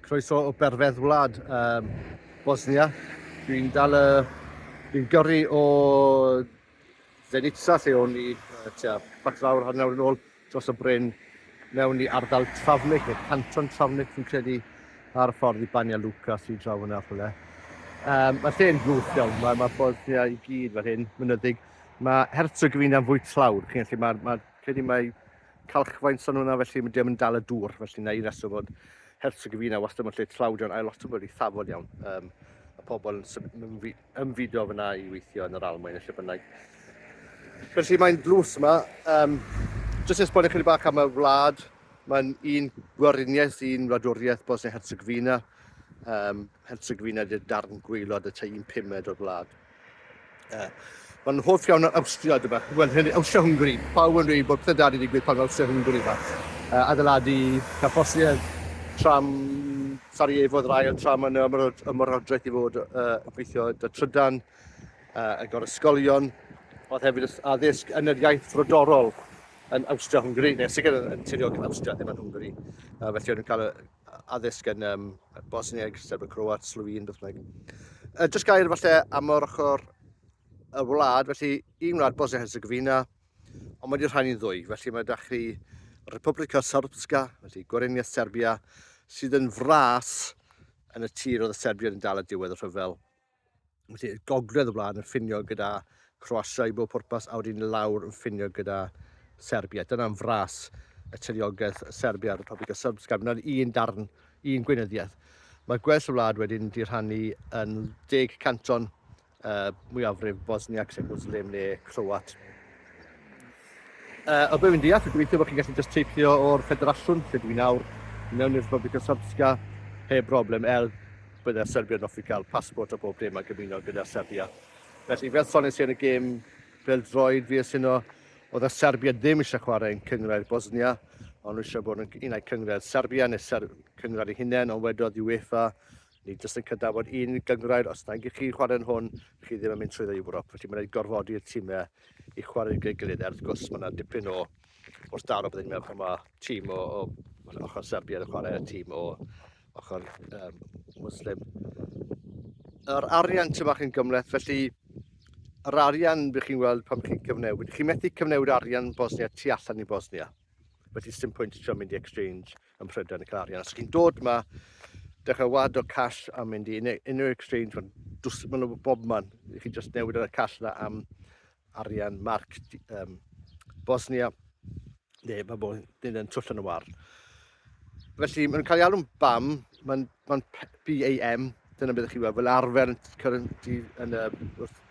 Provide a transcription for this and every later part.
Croeso o berfedd wlad um, Bosnia. Dwi'n dal y... Dwi'n gyrru o Zenica lle o'n i tua bach lawr hanner yn ôl dros y bryn mewn i ardal Travnik, neu canton Travnik fi'n credu, ar y ffordd i Banja Luka sy'n draw yna rhywle. Um, mae lle'n blwch iawn, mae, mae Bosnia i gyd fel hyn, mynyddig. Mae Herzegovina yn fwy tlawd, chi'n gallu, mae, mae, credu mae calchfaen so hwnna felly mae ddim yn dal y dŵr felly na un reswm bod Herzog y Fina wastad mewn lle tlawdion ail lot o wedi thafod iawn um, y pobl yn ymfudo fyna i weithio yn yr almwyn lle bynnag felly mae'n dlws yma um, jyst i esbonio chydig bach am y wlad mae'n un gwariniaeth un wladwriaeth Bosnia Herzog Fina um, Herzog Fina ydy'r darn gweilod y tei un pumed o'r wlad Mae'n hoff iawn o'r Awstria, dyma. Wel, hyn, Awstria-Hwngari. Pawb yn dweud bod pledadu digwydd pan mae Awstria-Hwngari yma. Uh, adeiladu carfosiau tram Sarajevo oedd yr ail tram yn ymwroddraeth i fod uh, yn gweithio da trydan, uh, yn gor ysgolion. Oedd hefyd addysg yn yr iaith frodorol yn Awstria-Hwngari, neu sicr yn, yn tiriogaeth Awstria, ddim yn Hwngari. Uh, felly o'n nhw'n cael y addysg yn um, Bosnieg, Serbia, Croat, Slywyn, beth bynnag. Uh, just gair falle am yr ochr y wlad, felly un wlad Bosnia Herzegovina, ond mae wedi rhan i'n ddwy, felly mae da chi Republika Srpska, felly Gorenia Serbia, sydd yn fras yn y tir oedd y Serbiad yn dal y diwedd y rhyfel Felly, gogledd y wlad yn ffinio gyda Croatia i bob pwrpas, a wedyn lawr yn ffinio gyda Serbia. Dyna'n fras y tiriogaeth Serbia ar y topic o Serbsgam. Dyna'n un darn, un gweinyddiaeth. Mae gwell y wlad wedyn di rhannu yn deg canton uh, mwyafrif Bosniac, sef Muslim neu Croat. Yy, o be' wi'n deall, dwi'n gobeithio bod chi'n gallu jyst teithio o'r ffederasiwn, lle dw i nawr, i mewn i'r Republic of Srpska heb broblem, er bydde'r Serbiaid yn offi cael passport a bob dim a gymuno gyda Serbia. Felly, fel sones i yn y gêm bêl-droed, fi a Sino, oedd y Serbiaid ddim eisiau chwarae yn cynghrair Bosnia, ond nhw eisiau bod yn un ai cynghrair Serbia neu Ser- cynghrair eu hunain, ond wedodd UEFA, Nid oes yn cydnabod un gynghrair, os nag ych chi'n chwarae'n hwn, rych chi ddim yn mynd trwyddo i Ewrop, felly mae'n rhaid gorfodi'r timau i chwarae gyda'i gilydd, er wrth gwrs mae yna dipyn o wrth daro byddai'n meddwl pan mae tîm o, o ochr Serbia yn chwarae a tîm o ochr um, Muslim. Yr arian ti'n bach yn gymleth, felly yr arian bych chi'n weld pan chi'n cyfnewid. Chi'n methu cyfnewid arian Bosnia tu allan i Bosnia. Felly sy'n pwynt trio mynd i exchange ym Mhrydain yn cael arian. Os chi'n dod yma, dechrau wad o cash a mynd i unrhyw exchange, mae'n dwys, maen nhw bob man. I chi just newid y cash yna am arian marc um, Bosnia. Ne, mae bod yn yn twll yn y war. Felly, mae'n cael ei alw'n BAM, mae'n ma BAM, dyna beth ych chi weld, fel arfer currency, yn y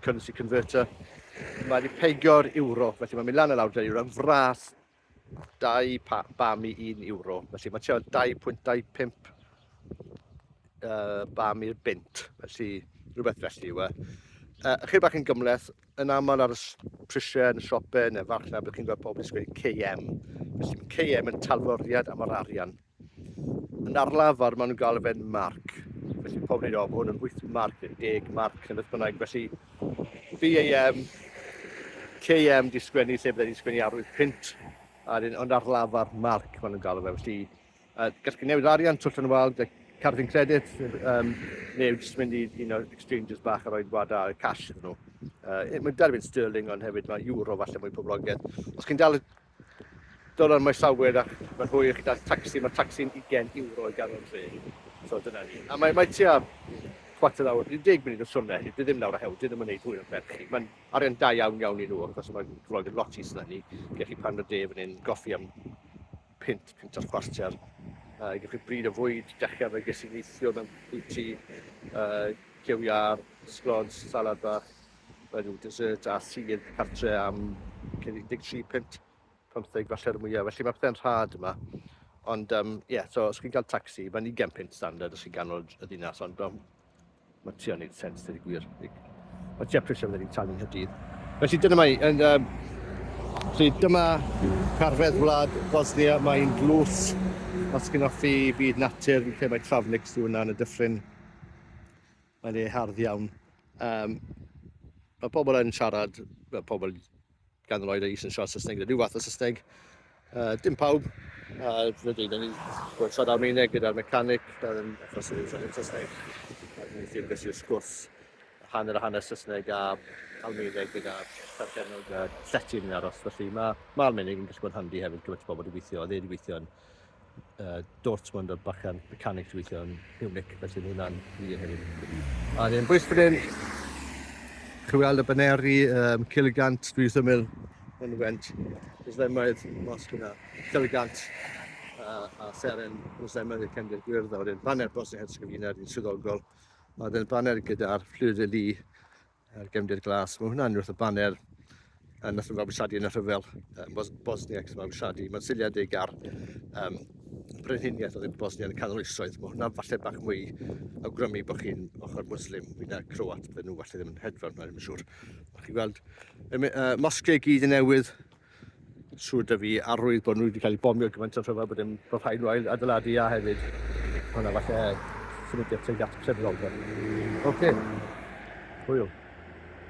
currency converter. Mae wedi peigio'r euro, felly mae'n mynd lan y lawr dy'r euro, fras 2 pa, bam i 1 euro. Felly mae tua 2.25 uh, bam i'r bint. Felly rhywbeth felly yw e. Uh, chyr bach yn gymleth, yn aml ar y prisiau yn y siopau neu farchnad, byddwch chi'n gweld pobl yn sgwyd KM. Felly mae KM yn talforiad am yr arian. Yn arlafar maen nhw'n gael y fe'n marc. Felly pob ni'n rhaid, hwn yn 8 marc, 10 marc, yn beth bynnag. Felly BAM, KM di sgwennu lle byddai di sgwennu arwydd pint, a dyn yn arlafar marc maen nhw'n gael y fe. Felly uh, gall chi newid arian, twll yn wal, cardyn credit, um, neu jyst mynd i un o'r exchanges bach a roi gwada cash iddyn nhw. Uh, mae'n derbyn sterling ond hefyd mae euro falle mwy poblogaidd. Os chi'n dal Dolar mae llawer ac mae rhoi i chi daith tacsi, mae tacsi'n ugain ewro i ganol dre. So dyna ni. A mae mae tua chwarter awr, deg munud o siwrne felly dyw e ddim lawr a hewl, dyw e ddim yn wneud hwyl ar ben chi. Mae'n arian da iawn iawn i nhw wrth gwrs a mae Lloyd yn lot is na ni. Gewch chi pan o de fan hyn, goffi am punt, punt a chwarter. Uh, gewch chi bryd o fwyd, dechra fe ges i neithiwr mewn bwyty, uh, cew iâr, sglons, salad bach, Mae rhyw dessert a sudd cartre am 13 punt, 15 falle'r mwyaf, felly mae pethau'n rhad yma. Ond, um, yeah, so os chi'n cael taxi, mae'n 20 punt standard os chi'n ganol y ddinas, ond um, mae ti o'n neud sens, dydy gwir. Mae ti apres am ni'n talu Nghydydd. Felly dyna mae, yn, um, felly dyma carfedd wlad Bosnia, mae'n glws, os chi'n offi byd natur, lle mae Travnik sy'n hwnna yn y dyffryn. Mae le hardd iawn. Um, mae pobl yn siarad, mae pobl gan yr oed ei sy'n siarad Saesneg, rhyw fath o Saesneg. Uh, dim pawb, a uh, dwi'n dweud, ni wedi siarad Almaeneg gyda'r mecanic, um, achos yn siarad Saesneg. A dwi'n ffyr beth yw'r sgwrs hanner a hanner Saesneg a Almaeneg gyda perchennog a llety yn aros. Felly mae, mae Almaeneg yn gallu bod yn handi hefyd gyda ti bobl wedi gweithio, a dde wedi gweithio yn uh, Dortmund a bachan mechanics weithio yn Munich, felly mae hwnna'n wir hefyd. A ni'n bwys fan hyn, chi weld y baneri, um, Cilgant, dwi wrth ymwyl yn went, Islemaid, mos gyda Cilgant, a, a seren Islemaid y Cymru Gwyrdd, a wedyn baner Bosnia Herzegovina, ni'n swyddogol, a wedyn baner gyda'r fflyd y lu, a'r gefndir glas. Mae hwnna'n wrth y baner yn nath nhw fabwysiadu yn y rhyfel um, Bos Bosniacs fabwysiadu. Mae'n seiliedig ar um, brenhiniaeth oedd yn Bosnia yn y canol oesoedd. Mae hwnna falle bach mwy awgrymu bod chi'n ochr Muslim fwy na Croat. Fe nhw falle ddim yn hedfan, mae'n siŵr. Mae chi'n gweld y uh, mosge gyd yn newydd Siŵr da fi arwydd bod nhw wedi cael eu bomio gymaint o rhyfel bod dim bod rhaid nhw ail adeiladu a hefyd hwnna falle symudiad tuag at y Oce. Hwyl.